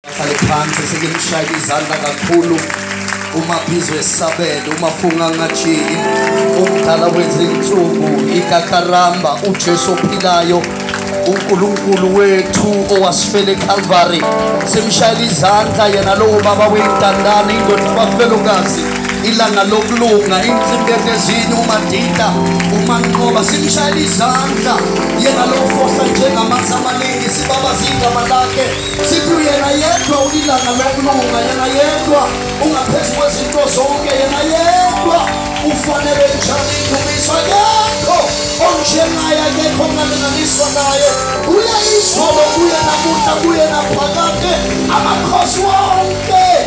Ahlale phansi sikimshaya izandla kakhulu uma phizwe esabele uma funga ngajiki umdala wenze insuku ikakaramba uJesu ophilayo uNkulunkulu wethu owasifela eCalvary simshayela izandla yena lowo baba weyintandane indoda bafelokazi ilanga lokulunga insimbi ehlezini umadida umanqoba simshayela izandla yena lowo fohla njengamanzi amaningi baba zigama lakhe sithi uyena yedwa ulilanga lokulunga yena yedwa ungaphezu kwezinto zonke yena yedwa ufanele njani indumiso akekho onjengaye akekho ongalinganiswa naye uye izolo kuye namuhla kuye naphakade amakhosi wonke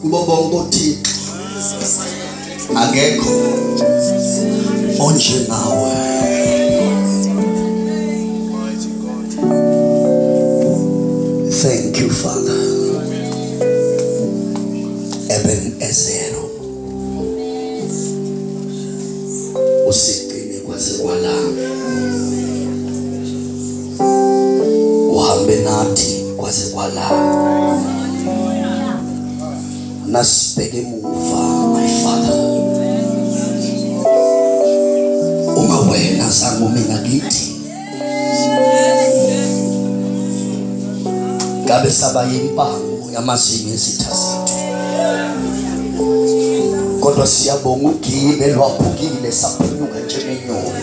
kubo bonke othixo akekho onjengawe thank you father eben ezero usigcine kwaze kwalapha uhambe nathi kwaze kwala nasibheke emuva my father uma wena zangu mina kithi ngabe saba yimpango yamazinyo ezitha zethu kodwa siyabonga ugile lwaphukile saphunyuka njengenyoni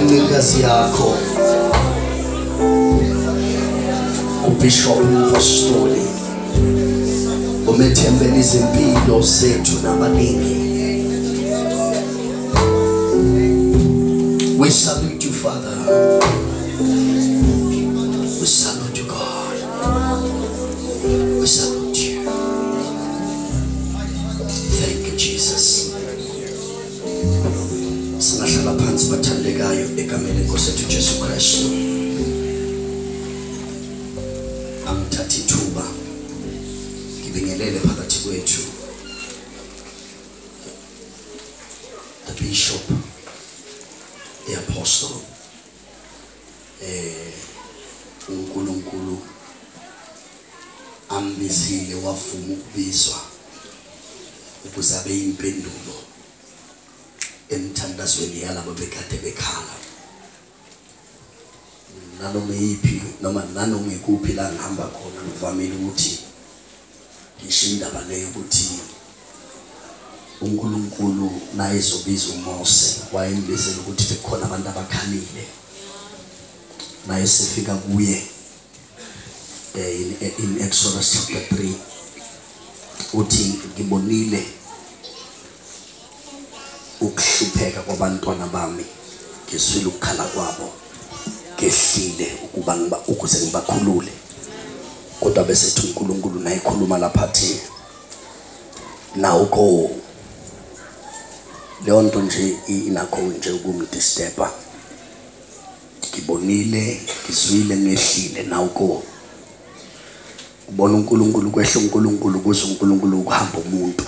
incikazi yakho ubishop umphostoli umethembela izimpilo zethu nabaningi we salute you father we salute you god we salute singahlala phansi bathandekayo egameni lenkosi yethu jesu kristu angithatha ithuba ngibingelele phakathi kwethu the bishop the apostle eh uNkulunkulu ambizile wavuma ukubizwa ukuze abe impendulo emthandazweni yalabo bekade bekhala nanoma iyiphi noma nanoma ikuphi la ngihamba khona ngivamile ukuthi ngisho indaba le yokuthi uNkulunkulu naye ezobiza uMose wayembizela ukuthi bekukhona abantu abakhalile naye sifika kuye eh, in, eh, in Exodus chapter 3 uthi ngibonile ukuhlupheka kwabantwana bami ngizwile ukukhala kwabo ngehlile ukuba ngiba ukuze ngibakhulule kodwa bese ethi uNkulunkulu naye khuluma lapha thi nawo ko leyo nto nje inakho nje ukumdisturba ngibonile ngizwile ngehlile nawo ko ubona uNkulunkulu kwehla uNkulunkulu kuze uNkulunkulu ukuhamba umuntu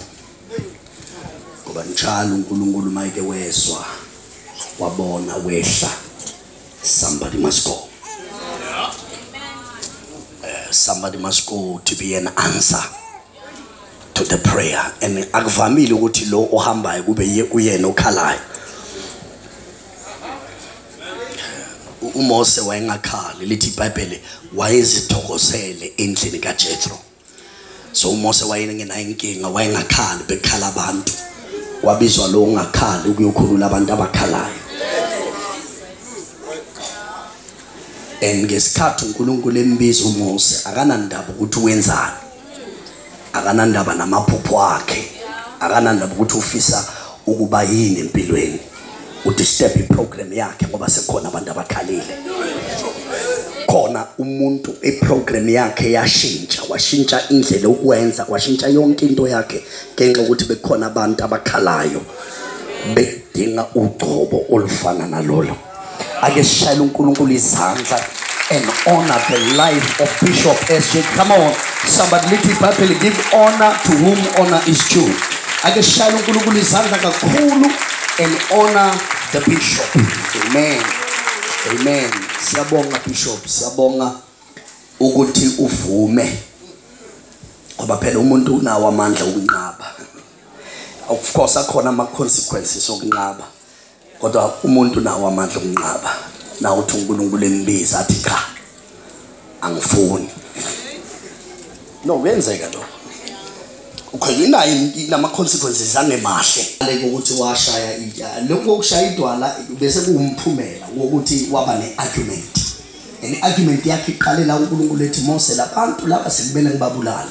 ngoba njalo uNkulunkulu mayike wezwa wabona wehla somebody must go uh, somebody must go to be an answer to the prayer and akuvamile ukuthi lo ohambayo kube uyena okhalayo uMose wayengakhali lithi iBhayibheli wayezithokozele endlini kaJethro so uMose wayengenayo inkinga wayengakhali bekhala abantu wabizwa lo ungakhali ukuyokhulula abantu abakhalayo and ngesikhathi uNkulunkulu embiza uMose akanandaba ukuthi wenzani akanandaba namaphupho akhe akanandaba ukuthi ufisa ukuba yini empilweni udisturb iprogram yakhe ngoba sekukhona abantu abakhalile khona umuntu iprogram yakhe yashintsha washintsha indlela ukwenza kwashintsha yonke into yakhe ngenxa ukuthi bekukhona abantu abakhalayo bedinga ugcobo olufana nalolo ake sishayele uNkulunkulu izandla and honor the life of Bishop SJ. Come on, somebody little Bible give honor to whom honor is due. Ake shaya uNkulunkulu izandla kakhulu and honor the bishop. Amen. Amen. Siyabonga bishop, siyabonga ukuthi uvume. Ngoba phela umuntu unawo amandla okunqaba. Of course akhona ama consequences okunqaba. kodwa umuntu nawo amandla okunqaba nawo uthi uNkulunkulu embiza athi cha angifuni no kuyenzeka lokho ukhona inayo inama consequences angemahle leko ukuthi washaya idwala lokho ukushaya idwala bese kuwumphumela wokuthi waba ne argument and argument yakhe iqalela uNkulunkulu ethi Mose labantu laba sekubele ngibabulala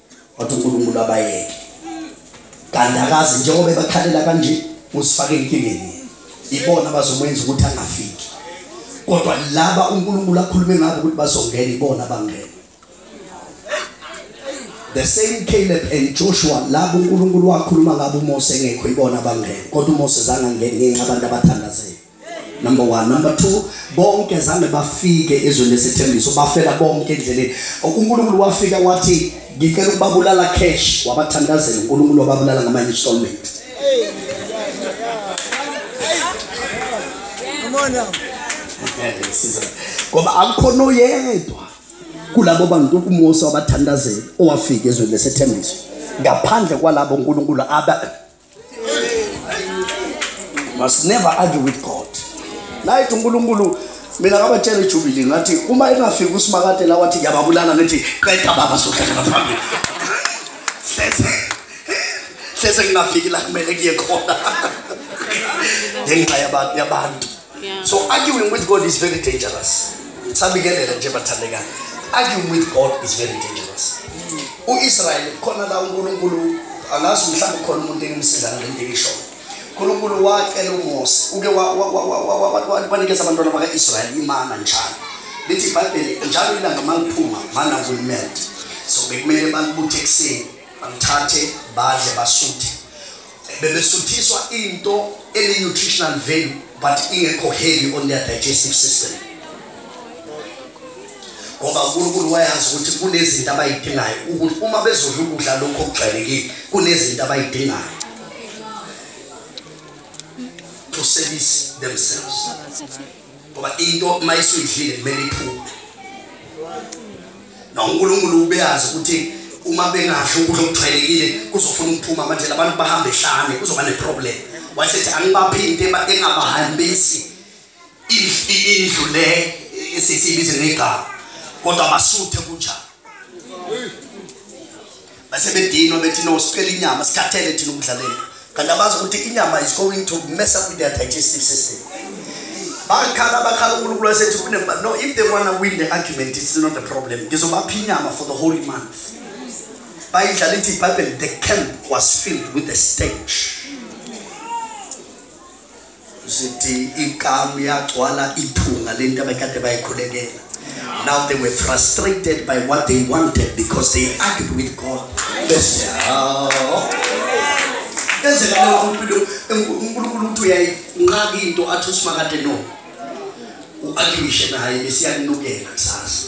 wathi uNkulunkulu abayeke kanti akazi njengoba ebakhalela kanje usifake enkingeni ibona bazomwenza ukuthi angafiki kodwa laba uNkulunkulu akhulume ngabo ukuthi bazongena ibona bangena the same Caleb and Joshua labo uNkulunkulu wakhuluma ngabo uMose engekho ibona bangena kodwa uMose zange angene ngenxa abantu abathandazeli number one number two bonke zange bafike ezweni lesethembiso bafela bonke endleleni unkulunkulu wafika wathi ngicela ukubabulala cash wabathandazela unkulunkulu wababulala ngamanye installment ngoba akukhona oyedwa kulabo bantu umose wabathandazela owafika ezweni lesethembiso ngaphandle kwalabo unkulunkulu must never argue with god naye unkulunkulu mina kabatshela ijubili ngathi uma engafiki usimakade la wathi ngiyababulala ngithi qeda baba sohlala ngaphambili hleze hleze ngingafiki la kumele kuye khona ngenxa yabantu Yeah. So arguing with God is very dangerous. Sabikelela nje bathandeka. Arguing with God is very dangerous. Mm. U-Israyeli khona la uNkulunkulu angazi mhlawumbe khona umuntu engimsiza ngale nto engisho. uNkulunkulu wacela uMose uke wanikeza abantwana baka-Israyeli imana njalo. Lithi iBhayibheli njalo ilanga maliphuma mana kulimele. So bekumele balibuthe ekuseni, balithathe badle basuthe. bebesuthiswa into ene-nutritional value but ingekho heavy on their digestive system ngoba unkulunkulu wayazi ukuthi kunezinto abayidingayo ukuthi uma bezodla ukudla lokhu okujwayelekile kunezinto abayidingayo to service themselves ngoba into uma isuyidlile kumele iphume nonkulunkulu ubeyazi ukuthi uma bengadli ukudla okujwayelekile kuzofuna ukuphuma manje labantu bahambe ehlane kuzoba neproblem wayesethi angibaphinte engabahambisi indlu le esisibize ngegama kodwa basuthe kunjalo base bedinwa bethi no sicela inyama sikhathele thina ukudlalela kanti abazi ukuthi inyama is going to mess up with their digestive system bakhala bakhala unkulunkulu wasethi kunemba no if they wanna win the argument it's not a problem ngizobapha inyama for the holy month bayidlala ithi ibhayibheli the camp was filled with the stench sithi ikamu yagcwala ithunga lento abekade bayikhulekela now they were frustrated by what they wanted because they argued with god bese enzeka leyo mpilo unkulunkulu ukuthi uyayinqaka into athi usimakade no u-arguishe naye besiyakunukela kusasa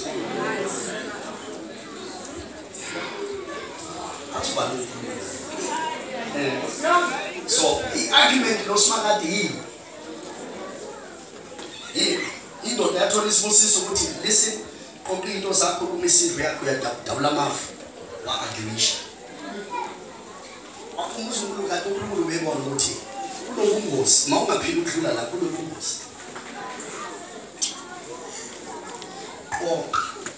so i-argument losimakade yini yini indoda yathola isibusiso ukuthi listen qoqa into zakho uma isidlo yakho uyadabula amafu wa-arguisha umzukulu kade unkulunkulu bebona ukuthi kunobungozi ma ungaphili ukudlula la kunobungozi qoqa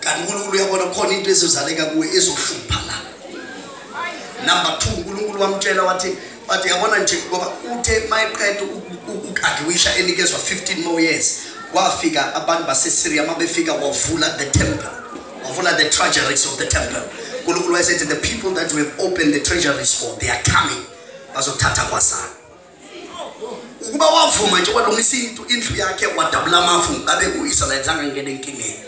kanti unkulunkulu uyabona khona into ezizaleka kuwe ezohlupha la number two unkulunkulu wamtshela wathi but yabona nje ngoba uthe mayeqeda ukukadiwisha enikezwa 15 more years wafika abantu basesyria uma befika wavula the temple wavula the treasuries of the temple unkulunkulu wayesethi the people that we have opened the treasuries for they are coming bazothatha kwasana ukuba wavuma nje walungisa into indlu yakhe wadabula amafu ngabe u-israyeli zange ngene enkingeni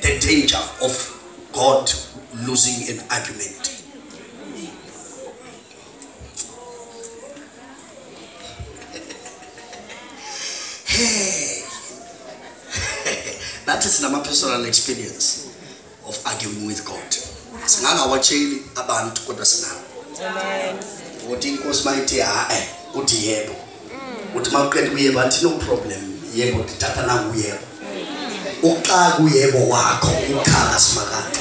the danger of god losing an argument nathi sinama-personal experience of arguing with God singangawatsheli abantu kodwa sinawo amen ukuthi inkosi mayithe hae uthi yebo mm. uthi maqede kuyebo anti no problem yebo ngithatha nangu yebo uqala kuyebo wakho ukhala simakade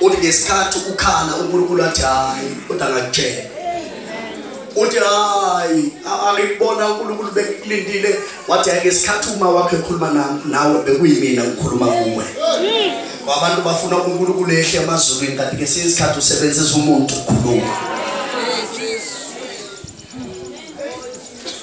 uthi ngesikhathi ukhala uNkulunkulu athi hayi kodwa ngakutshela uthi hayi angikubona uNkulunkulu bekulindile wathi ngesikhathi uma wakhe ekhuluma nawe bekuyimina ngikhuluma kuwe abantu bafuna uNkulunkulu ehle emazulwini kanti ngesinye isikhathi usebenzisa umuntu ukukhuluma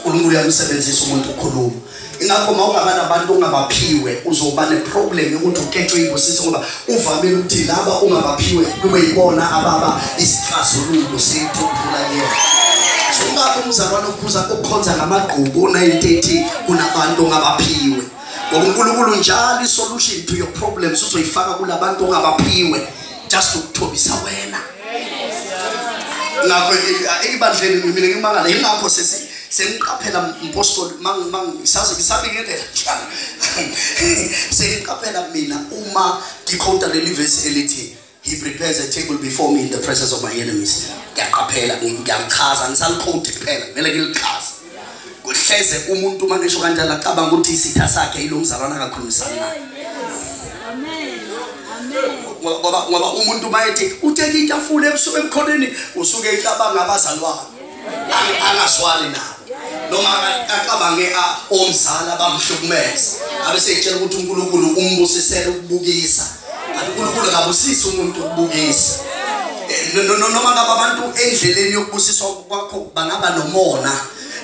uNkulunkulu uyamsebenzisa umuntu ukukhuluma ingakho uma ungaba nabantu ongabaphiwe uzoba neproblem yokuthi uketshwe ibusisi ngoba Uvamile ukuthi laba ungabaphiwe kube yibona ababa isixazululo seyithuphula yena. Ungabe umzalwane okhuza ukukhonza ngamagqubu ona-30 kunabantu ongabaphiwe. Ngoba uNkulunkulu njalo isolution to your problems uzoyifaka kulabantu ongabaphiwe just ukuthobisa wena. ngakho ekubandleni mina ngimangala yingakho sesi sengiqaphela mpostoli mangisazi ngisabingelela njalo sengiqaphela mina uma ngikhonta leli vesi elithi he prepares a table before me in the presence of my enemies ngiyaqaphela ngiyakuchaza ngisalikhonti kuphela kumele ngilichaze kuhleze umuntu uma ngisho kanjalo acabanga ukuthi isitha sakhe yilo mzalwana akakhulumisani naye ngoba ngoba umuntu mayethi utheke itafula ebusuku emkhoneni usuke icabanga abazalwane angazwani nabo noma acabange omzala bamhlukumeza abeseyitshela ukuthi uNkulunkulu umbusisele ukubukisa uNkulunkulu akabusisi umuntu ukubukisa eh, noma ngaba abantu endleleni yokubusiswa kwakho bangaba nomona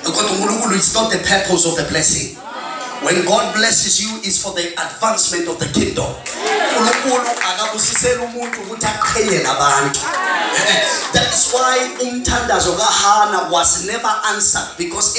kodwa uNkulunkulu is not the purpose of the blessing when god blesses you is for the advancement of the kingdom uNkulunkulu akabusisela umuntu ukuthi aqhele nabantu that is why umthandazo kaHana was never answered because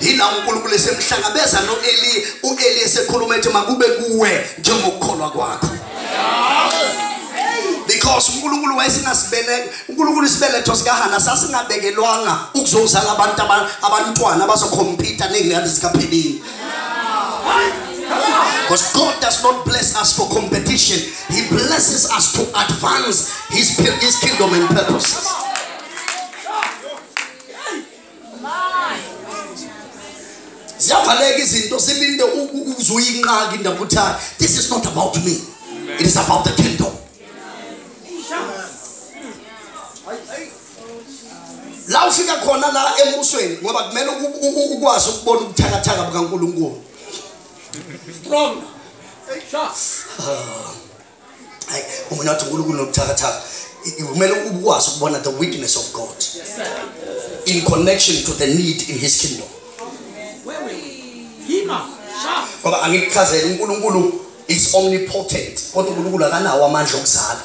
yila unkulunkulu esemhlangabeza no-eli u-eli esekhuluma ethi makube kuwe njengokukholwa kwakho because unkulunkulu wayesingasibeleka unkulunkulu isibeletho sikahana sasingabekelwanga ukuzozala abantu abantwana abazokhompyutha ney'ngane zikaphelini Because God does not bless us for competition. He blesses us to advance His, his kingdom and purposes. ziyavaleka izinto silinde uzuyinqaka indaba ukuthi this is not about me it is about the kingdom la ufika khona la embusweni ngoba kumele ukwazi ukubona ubuthakathaka bukankulunkulu strong hayi umuntu wathi unkulunkulu nobuthakathaka kumele ukwazi ukubona the witness of god in connection to the need in his kingdom ngoba angikuchazele unkulunkulu is omnipotent kodwa unkulunkulu akanawo amandla okuzala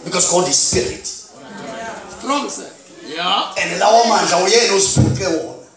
because god is spirit and lawo mandla uyena oziphuce wona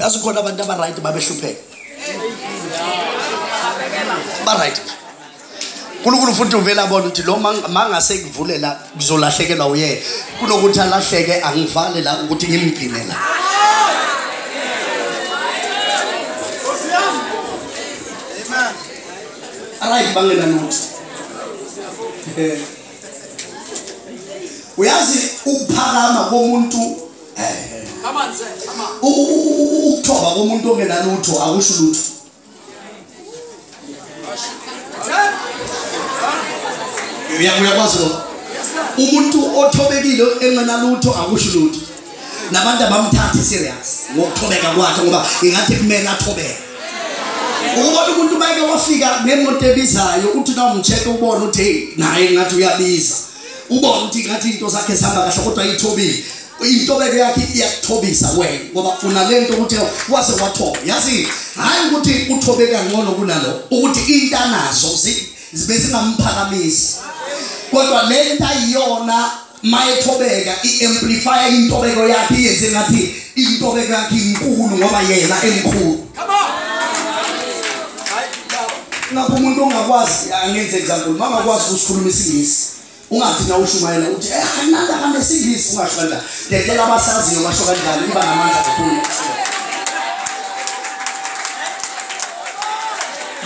yazi khona abantu abaright babehlupheka baright nkulunkulu futhi uvele abona ukuthi lo mangase kuvulela ngizolahlekelwa uyena kunokuthi alahleke angivale la ukuthi ngimgcine la right bangena nokuthi eh. uyazi ukuphakama komuntu eh. ukuthoba komuntu ongenalutho akusho lutho uyakwazi lokho umuntu othobekile engenalutho akusho lutho nabantu abamthathi serious ngokuthobeka kwakhe ngoba ingathi kumele athobeke ukubona umuntu mayeke wafika nemoto ebizayo uthi na umcheck ubone uthi hey naye ngathi uyabiza ubone ukuthi ngathi into zakhe zihamba kahle kodwa ayithobile intobeko yakhe iyakuthobisa wena ngoba funa le nto ukuthi wase wathoba yazi hhayi ukuthi uthobe kangcono kunalo ukuthi intanazo bezingamphakamisi kodwa le nto ayiyona mayethobeka i-amplifya intobeko yakhe iyenze ngathi intobeko yakhe inkulu ngoba yena emkhulu ngapha umuntu ongakwazi angenze example mangakwazi ukusikhuluma isingisi ungathi na ushumayela uthi eh kananda kame singisi ungasho kanjalo ngeke abasaziyo basho kanjalo iba namandla kakhulu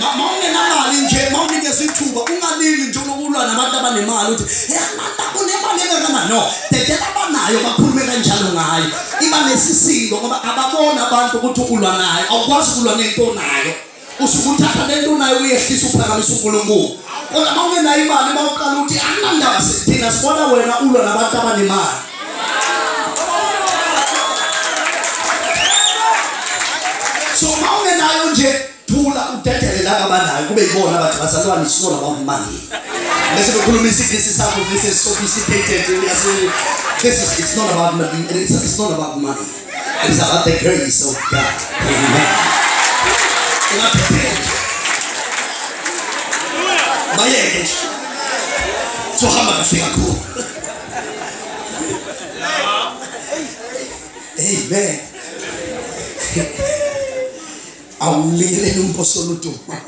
mama ungenamali nje mama unikeza ithuba ungalili nje unokulwa nabantu abanemali uthi eh kananda kunemali engakana no ngeke abanayo bakhulume kanjalo ngayo iba nesisindo ngoba ababona abantu ukuthi ukulwa nayo awukwazi ukulwa nento nayo usuke uthatha le nto unayo uyehlisa uphakamisa unkulunkulu kodwa uma ungenayo imali uma uqala ukuthi anginandaba thina sibona wena ulwa nabantu abanemali so uma ungenayo nje thula udedele laba abanayo kube yibona abathi bazalwane sibona bawumali bese bekhuluma isigisi sakho this is sophisticated this is it's not about money it's not about money It's about the grace of God. Amen. Ungaphephela. Bayeke nje. Sohamba kahle kakhulu. Amen. Awulingelele umphosolo uduma.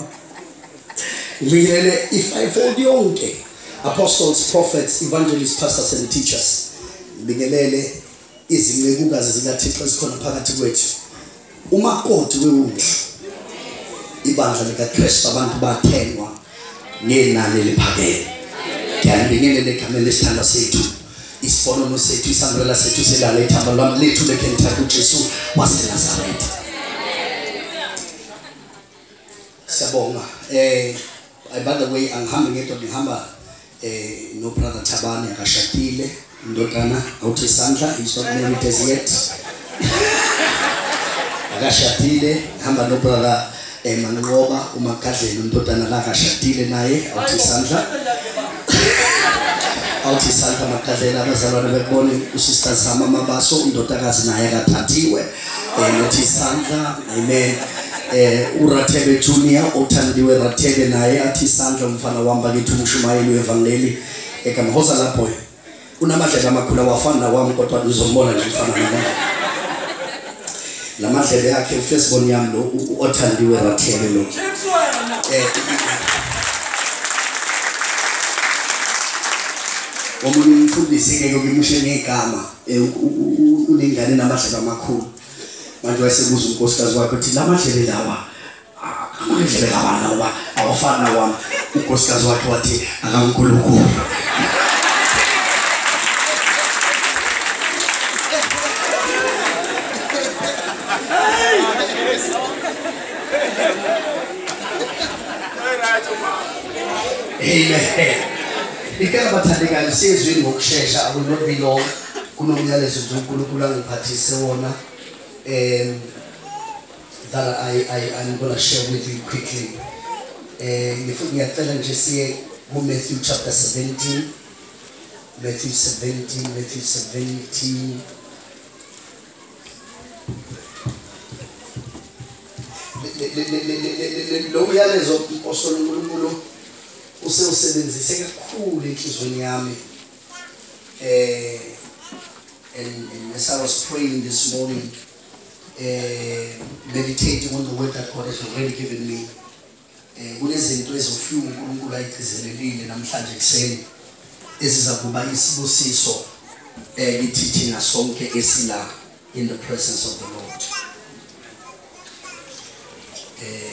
Lingelele i-fivefold yonke. Apostles, prophets, evangelists, pastors and teachers. Lingelele izincekukazi zikathixo ezikhona phakathi kwethu umakoti wewundlu ibandla likakristu abantu bathengwa ngenani eliphakeme ngiyalibingelela egameni lesithandwa sethu isifonono sethu isambulela sethu selala ithamba lwami lethu lekhe ngithatha ujesu wasenazaretha Siyabonga. Eh I by the way angihambi ngedwa ngihamba eh no brother Thabane akashadile indodana awuthi isandla he's not married as yet. Akashadile hamba no brother eh Manqoba umakadleni indodana la akashadile naye awuthi isandla. awuthi isandla makadlela abazalwane bekubone usista zama mabaso indodakazi naye akathathiwe Ngithi isandla amen. Eh uRathebe Junior othandiwe Rathebe naye athi isandla umfana wami bakithi umshumayeli wevangeli ekamhoza lapho. Unamadlela amakhulu awafani nawami kodwa uzombona nje mfana nami. La madlebe yakhe ufesibon yami lo othandiwe Rathebe lo. Eh omunye umfundisi ngeke ukimushe ngegama Eh, unengane namadlebe amakhulu manje wayesebuza unkosikazi wakhe ukuthi la madlebe lawa amadlebe lawa nawa awafani nawami unkosikazi wakhe wathi akankulunkulu Amen. Ngicela bathandekayo siyezwini ngokushesha akunobilo kunomyalezo nje uNkulunkulu angiphathise wona um that I, I, I'm going to share with you quickly. Eh, ngifuna ngiyacela nje siye kuMatthew chapter 17 Matthew 17 Matthew 17 lo myalezo osolo uNkulunkulu usewusebenzise kakhulu enhlizweni yami eh and, and as I was praying this morning eh meditating on the word that God has already given me eh kunezinto ezofika uNkulunkulu ayigcizelelile namhlanje kuseni eziza kuba isibusiso eh kithi thina sonke esila in the presence of the Lord eh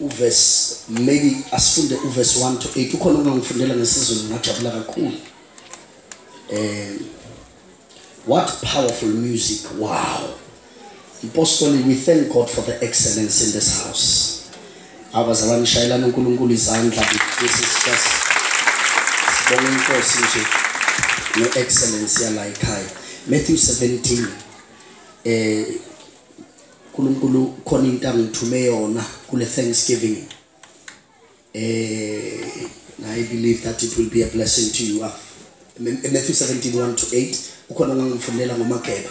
uverse maybe asifunde uverse 1 to 8 ukhona umuntu ngifundela ngesizulu ngajabula kakhulu um what powerful music wow mpostoli we thank god for the excellence in this house abazalwane ishayelana unkulunkulu izandla this is just sibonga inkosi nje ne-excellence yala ekhaya matthew 17 eh uNkulunkulu khona into angithume yona kule Thanksgiving eh I believe that it will be a blessing to you Matthew 17:1 to 8 ukhona ngangifundela ngomageba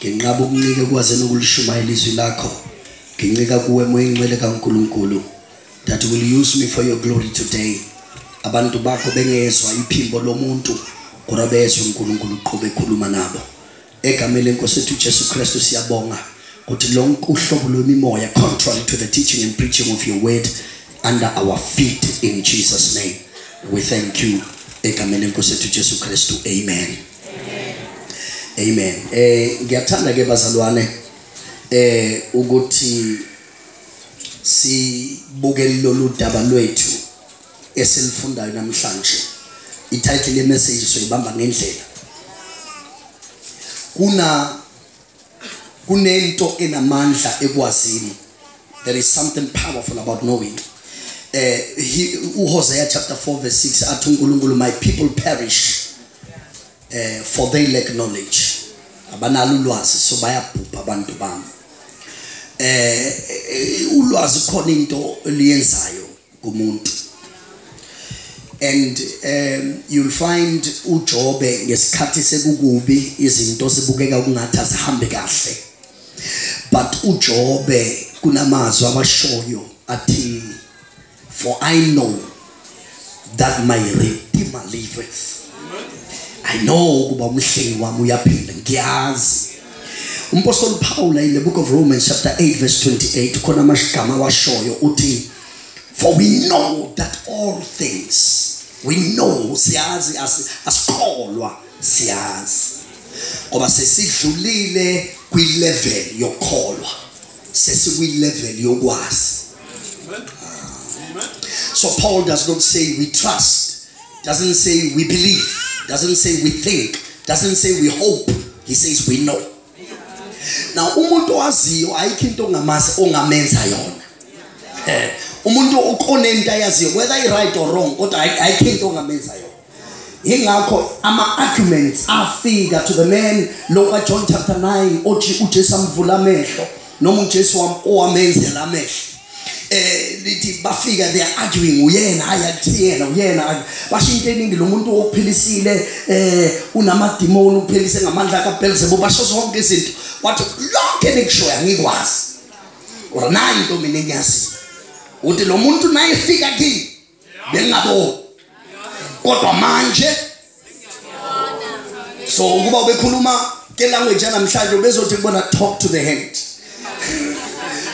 Nginqaba ukuncika ekwazini ukulishumayela izwi lakho. Ngincika kuwe moya ingcwele kaNkulunkulu that will use me for your glory today. Abantu bakho bengezwa iphimbo lomuntu kodwa bezwe uNkulunkulu uqhube ekhuluma nabo. Egameni lenkosi ethu Jesu Kristu siyabonga ukuthi lonke uhlobo lwemimoya contrary to the teaching and preaching of your word under our feet in Jesus name. We thank you egameni lenkosi ethu Jesu Kristu. Amen. amen eh ngiyathanda ke bazalwane eh ukuthi sibuke lolu daba lwethu esilifundayo namhlanje ititle yemessage soyibamba ngendlela kuna kunento enamandla ekwazini there is something powerful about knowing eh uHosea chapter 4 verse 6 athi uNkulunkulu my people perish eh for they lack knowledge abanalo ulwazi so bayabhubha abantu bami eh ulwazi khona into eliyenzayo kumuntu and um you'll find uJobe ngesikhathi sekukubi izinto sibukeka kungathi azihambe kahle but uJobe kunamazwi abashoyo athi for i know that my redeemer liveth i know kuba umhlengi wami uyaphila ngiyazi umpostoli uphawula in the book of romans chapter 8 verse 28 khona amashigama awashoyo uthi for we know that all things we know siyazi asikholwa siyazi ngoba sesidlulile kwilevel yokholwa sesikwilevel yokwazi so paul does not say we trust doesn't say we believe doesn't say we think doesn't say we hope he says we know now umuntu owaziyo ayikho into ongamazi ongamenza yona eh, umuntu onento ayaziyo whether i-right or wrong kodwa ayikho into ongamenza yona yingakho ama-arguments afika to the man lo kajohn chapter 9 othi ujesu amvula amehlo noma ujesu owamenzela amehlo eh lithi bafika they are arguing uyena hayi akuthiyena uyena basho into eningi lo muntu ophilisile eh unamadimoni uphilise ngamandla kaBelzebub basho zonke izinto wathi lonke nikushoyo angikwazi or nayi into mina engiyazi uthi lo muntu naye fika kimi bengingaboni kodwa manje so ukuba ubekhuluma ke language yanamhlanje ubezothi kubona talk to the hand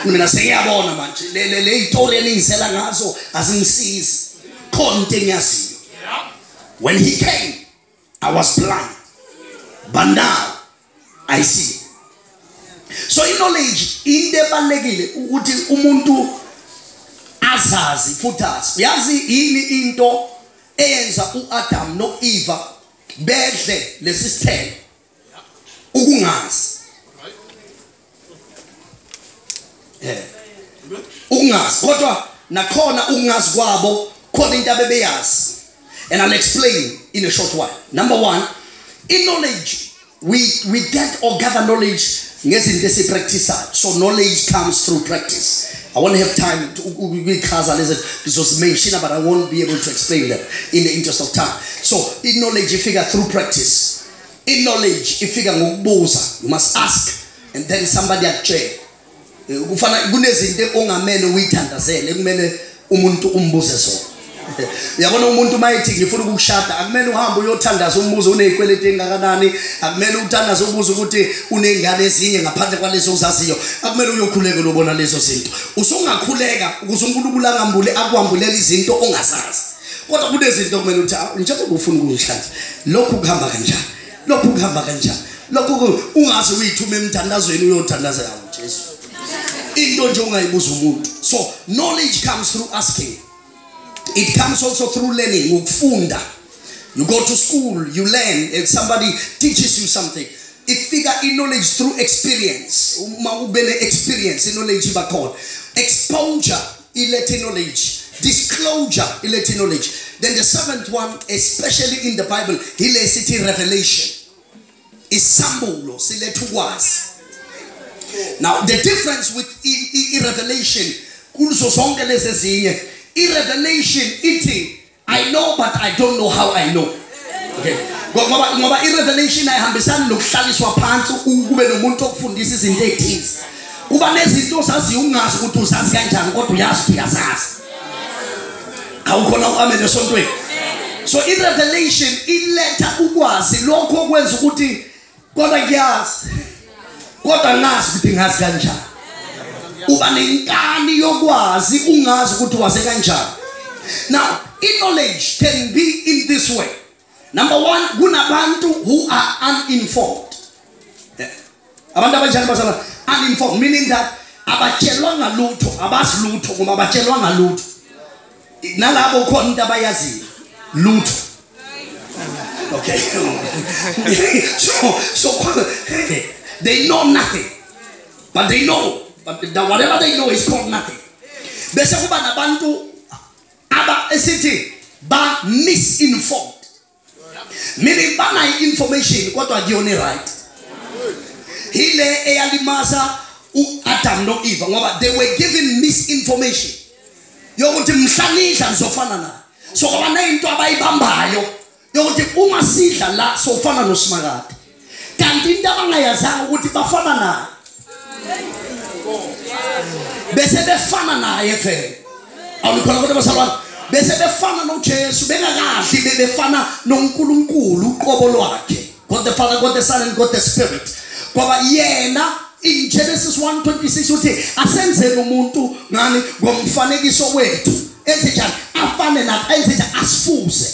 mina sengiyabona manje le le le itori eningisela ngazo azingisizi khona into engiyaziyo when he came I was blind but now I see so i-knowledge into ebalulekile ukuthi umuntu azazi futhi azi uyazi yini into eyenza u-adamu no-eva bedle lesi sithelo ukungazi eh ukungazi kodwa nakhona ukungazi kwabo khona into abebeyazi and i'll explain in a short while number one in knowledge we we get or gather knowledge ngezinto esipracticeayo so knowledge comes through practice i won't have time to ukuyichaza lezi ngizozimenshina but i won't be able to explain them in the interest of time so in knowledge ifika through practice i knowledge ifika ngokubuza you must ask and then somebody akutshela eh, kufana kunezinto ongamele uyithandazele kumele umuntu umbuze zona uyabona umuntu uma ethi ngifuna ukukushada akumele uhambe uyothandaza umbuzo unezikweleti engakanani akumele uthandaze ubuze ukuthi uney'ngane ezinye ngaphandle kwalezo uzaziyo akumele uyokhuleke lobona lezo zinto usungakhuleka ukuze unkulunkulu angambule akwambulela izinto ongazazi kodwa kunezinto kumele ukuthi ah, njengoba ufuna ukungihlanza lokhu kuhamba kanjani lokhu kuhamba kanjani lokhu ungaze uyithume emthandazweni uyothandaza yawo Jesu into nje ungayibuza umuntu so knowledge comes through asking it comes also through learning ukufunda you go to school you learn and somebody teaches you something ifika i-knowledge through experience uma ube ne-experience i-knowledge iba khona exposure ilethe knowledge disclosure ilethe knowledge then the seventh one especially in the bible ilesi thi revelation isambulo siletha ukwazi now the difference with i-revelation kuzo zonke lezi ezinye i-revelation ithi I know but I don't know how I know. Okay. Ngoba ngoba irevelation ayihambisani nokuhlaliswa phansi ukube nomuntu okufundisa izinto ezithize. Kuba nezinto osaziyo ungazi ukuthi uzazi kanjani kodwa uyazi ukuthi uyazazi. Awukhona uamen esontweni. So irevelation iletha ukwazi lokho okwenza ukuthi kodwa ngiyazi kodwa ngazi ukuthi ngazi kanjani uba nenkani yokwazi ungazi ukuthi waze kanjani now in knowledge can be in this way number one kunabantu who are uninformed eh, abantu abanjani basala uninformed meaning that abatshelwanga lutho abazi lutho ngoba abatshelwanga lutho nalabo ukhona into abayaziyo lutho okay so so they know nothing but they know but the, whatever they know is called nothing bese kuba nabantu aba esithi ba misinformed meaning banayo information kodwa kuyona right hile eyalimaza uAdam noEva ngoba they were given misinformation yokuthi mhla nidla nizofana naye so kwabaneyinto abayibambayo yokuthi uma sidla la sofana nosimakade kanti into abangayazanga ukuthi bafana naye bese befana naye vele awulikhona kodwa basalwana bese befana nojesu bengakadli bebefana nonkulunkulu uqobo lwakhe god the father god the son and god the spirit ngoba yena in genesis 126 uthi asenzele umuntu ngani ngomfanekiso wethu enze njani afane nathi enze njani asifuze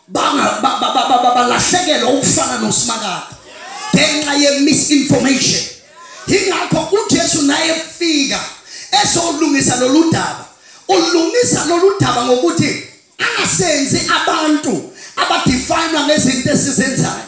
balahlekelwa ukufana noSimakade ngenxa ye-misinformation yingakho uJesu naye efika ezolungisa lolu daba ulungisa lolu daba ngokuthi angasenzi abantu abadefinwa ngezinto esizenzayo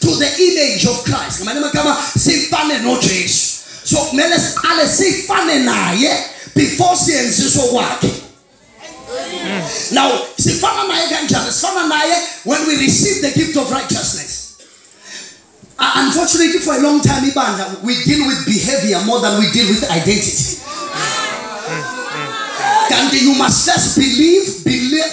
to the image of Christ ngamanye amagama sifane noJesu so kumele siqale sifane naye before siyenziswa kwakhe now sifana naye kanjani sifana naye when we receive the gift of righteousness uh, unfortunately for a long time ibandla we deal with behavior more than we deal with identity kanti you must first believe believe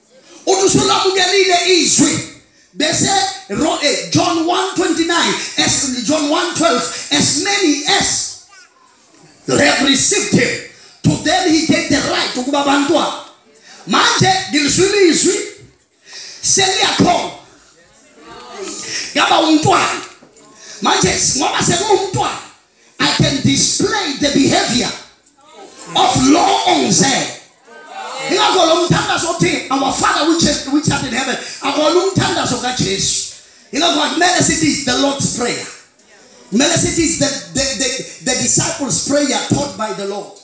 uthi usulamukelile izwi bese eh, John 1:29 as John 1:12 as many as have received him to them he gave the right ukuba abantwana manje ngilizwile izwi seliyakhona yaba umntwana manje ngoba sekuwumntwana I can display the behavior of law on Zen. Ingakho lo mthandazo othi our father which is which art in heaven akona umthandazo kaJesu. Ingakho akumele sithi is the Lord's prayer. Kumele sithi is the the, the the disciples prayer taught by the Lord.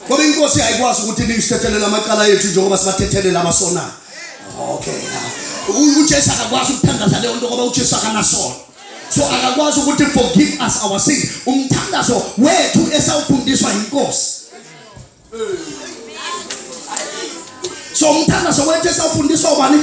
ngoba inkosi ayikwazi ukuthi niyisithethelele amacala yethu njengoba sibathethelele abasonayo okay ujesu akakwazi ukuthandaza leyo nto ngoba ujesu akanasona so akakwazi ukuthi forgive us our sin umthandazo wethu esawufundiswa yinkosi so umthandazo wethu esawufundiswa ubani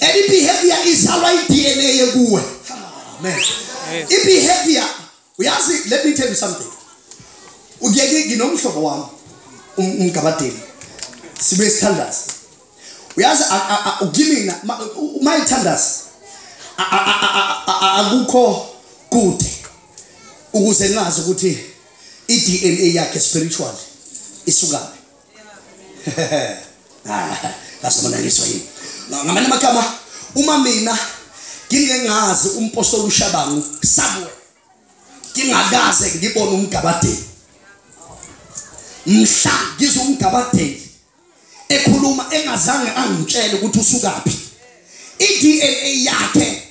and ibehavior izalwa i-dna yekuwe amen ibehavior uyazi let me tell you something uyeke nginomhlobo wami um, umgabadeli sibe sithandazi uyazi ukimina uma ithandazi akukho kude ukuze ngazi ukuthi i-dna yakhe spiritual isukaphi ngasibonakiswa yini ngamanye amagama uma mina ngingengazi umpostoli ushabangu samuel ngingakaze ngibone umgabadeli mhla ngizwa umgabadeli ekhuluma engazange angitshele ukuthi usukaphi i-dna yakhe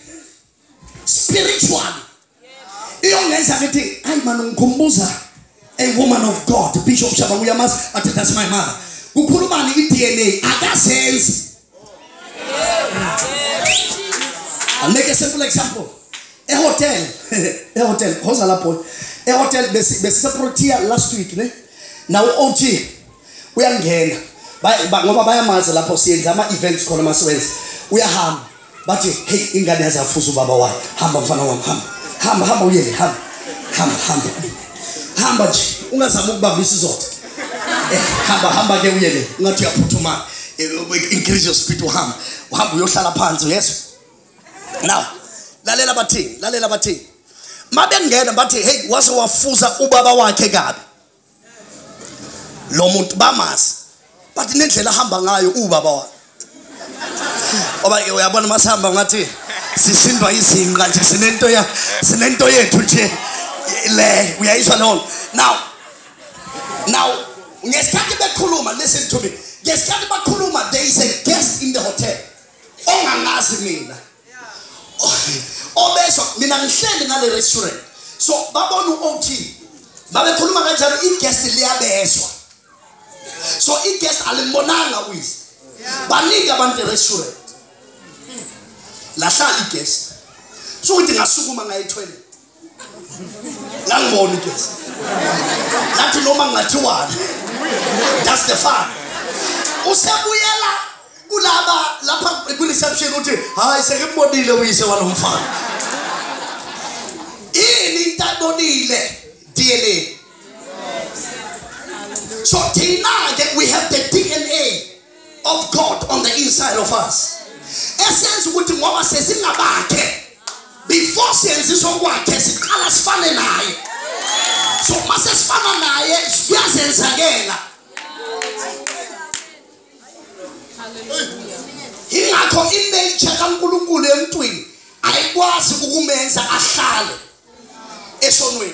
spiritual iyongenza ngithi ayi mani ngikhumbuza a woman of god bishop shabangu uyamazi athi that's my mother kukhulumani i-dna akazenzi I'll make a simple example ehotel ehotel khoza lapho ehotel besiseprotea last week ne nawo ot uyangena ngoba bayamazi lapho siyenza ama-events khona masiwenza uyahamba bathi hey ingane yaze yafuza ubaba wayo hamba mfana wami hamba hamba hamba uyele hamba hamba hamba hamba nje ungazama ukubamba isizotha eh, hamba hamba ke uyele ungathi uyaphuthuma eh, increase your speed uhamba uhamba uyohlala phansi yeso now lalela bathini lalela bathini mabengena bathi hey wase wafuza ubaba wakhe kabi lo muntu bamazi but nendlela ahamba ngayo ubaba wakhe oba uyabona masihamba ngathi sisindwa izinqa nje sinento ya sinento yethu nje le uyayizwa leyo now now ngesikhathi bekhuluma listen to me ngesikhathi bakhuluma there is a guest in the hotel ongangazi mina obezwa mina ngihleli ngale restaurant so babona u-ot babekhuluma kanjalo i-guest liyabezwa so i-guest alimbonanga uyise baningi abantu e-restaurant lahlala i-guest so ukuthi ngasukuma ngaye-toilet nangibona igesi nathi noma ngingathiwani that's the fun usebuyela kulaba lapha kwi-reception uthi hayi sekembonile uyise walomfana ini into abonile dna so thina-ke we have the dna of God on the inside of us esenza ukuthi ngoba sesingabakhe before siyenzisa okwakhe siqala sifane naye so uma sesifana naye kuyazenzakela ingakho inature kankulunkulu emntwini ayikwazi ukumenza ahlale esonweni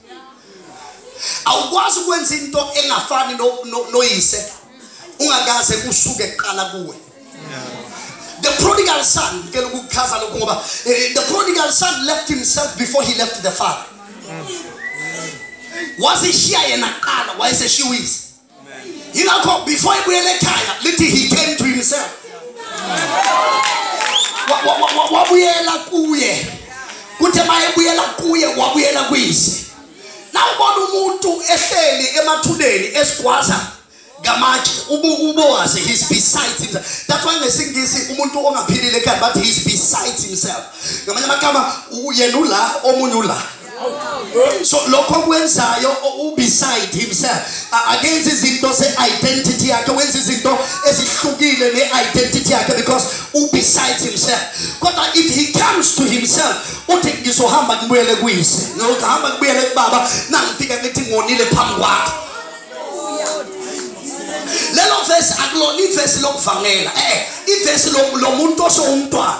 awukwazi ukwenza into engafani noyise ungakaze usuke kuqala kuwe the prodigal son ngicela ukukuchaza lokhu ngoba eh, the prodigal son left himself before he left the father wazishiya yena kuqala wayeseshiwise yingakho before ibuyela ekhaya lithi he came to himself wabuyela kuye kuthe uma ebuyela kuye wabuyela kuyise nawubona umuntu ehleli emathuneni esigwaza ngamatshe ubowazi he's besides himself that's why ngesingisi umuntu ongaphilile ekhaya bathi he's besides himself ngamanye amagama yena ula omunye ula so lokho kwenzayo ubeside himself akenza izinto se-identity yakhe wenza izinto ezihlukile ne-identity yakhe because ubeside himself kodwa if he comes to himself uthi ngizohamba ngibuyele kuyise ngihamba ngibuyele kubaba nangifika ngithi ngonile phambi kwakhe lelo vesi akulona ivesi lokuvangela um ivesi lomuntu osewumntwana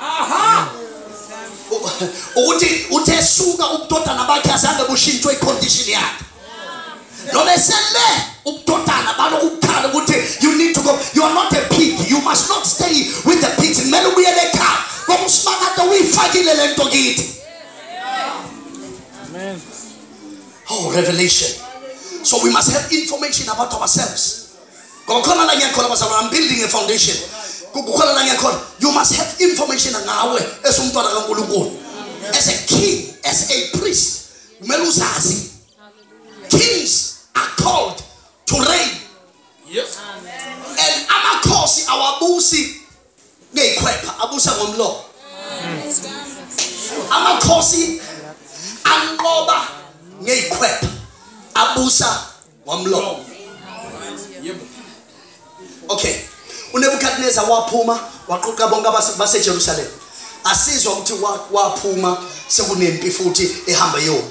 aha ukuthi uthe suka ubudodana bakhe azange bushintshwe icondition yakhe noma esele ubudodana balokukhala ukuthi you need to go you are not a pig you must not stay with the pigs kumele ubuyele ekhaya ngoba usimakade uyifakile le nto kithi oh revelation so we must have information about ourselves ngokhona la ngiyakhona bazalwane i'm building a foundation kukhona la ngiyakhona you must have information ngawe esumntwana kankulunkulu as a king as a priest kumele uzazi kings are called to reign yes. and amakhosi awabusi ngeyikhwepha abusa ngomlomo amakhosi anqoba ngeyikhwepha abusa wamlonga yebo okay unebukadneza waphuma waqoqa bonke basejerusalema asizwa ukuthi waphuma sekunempi futhi ehamba yona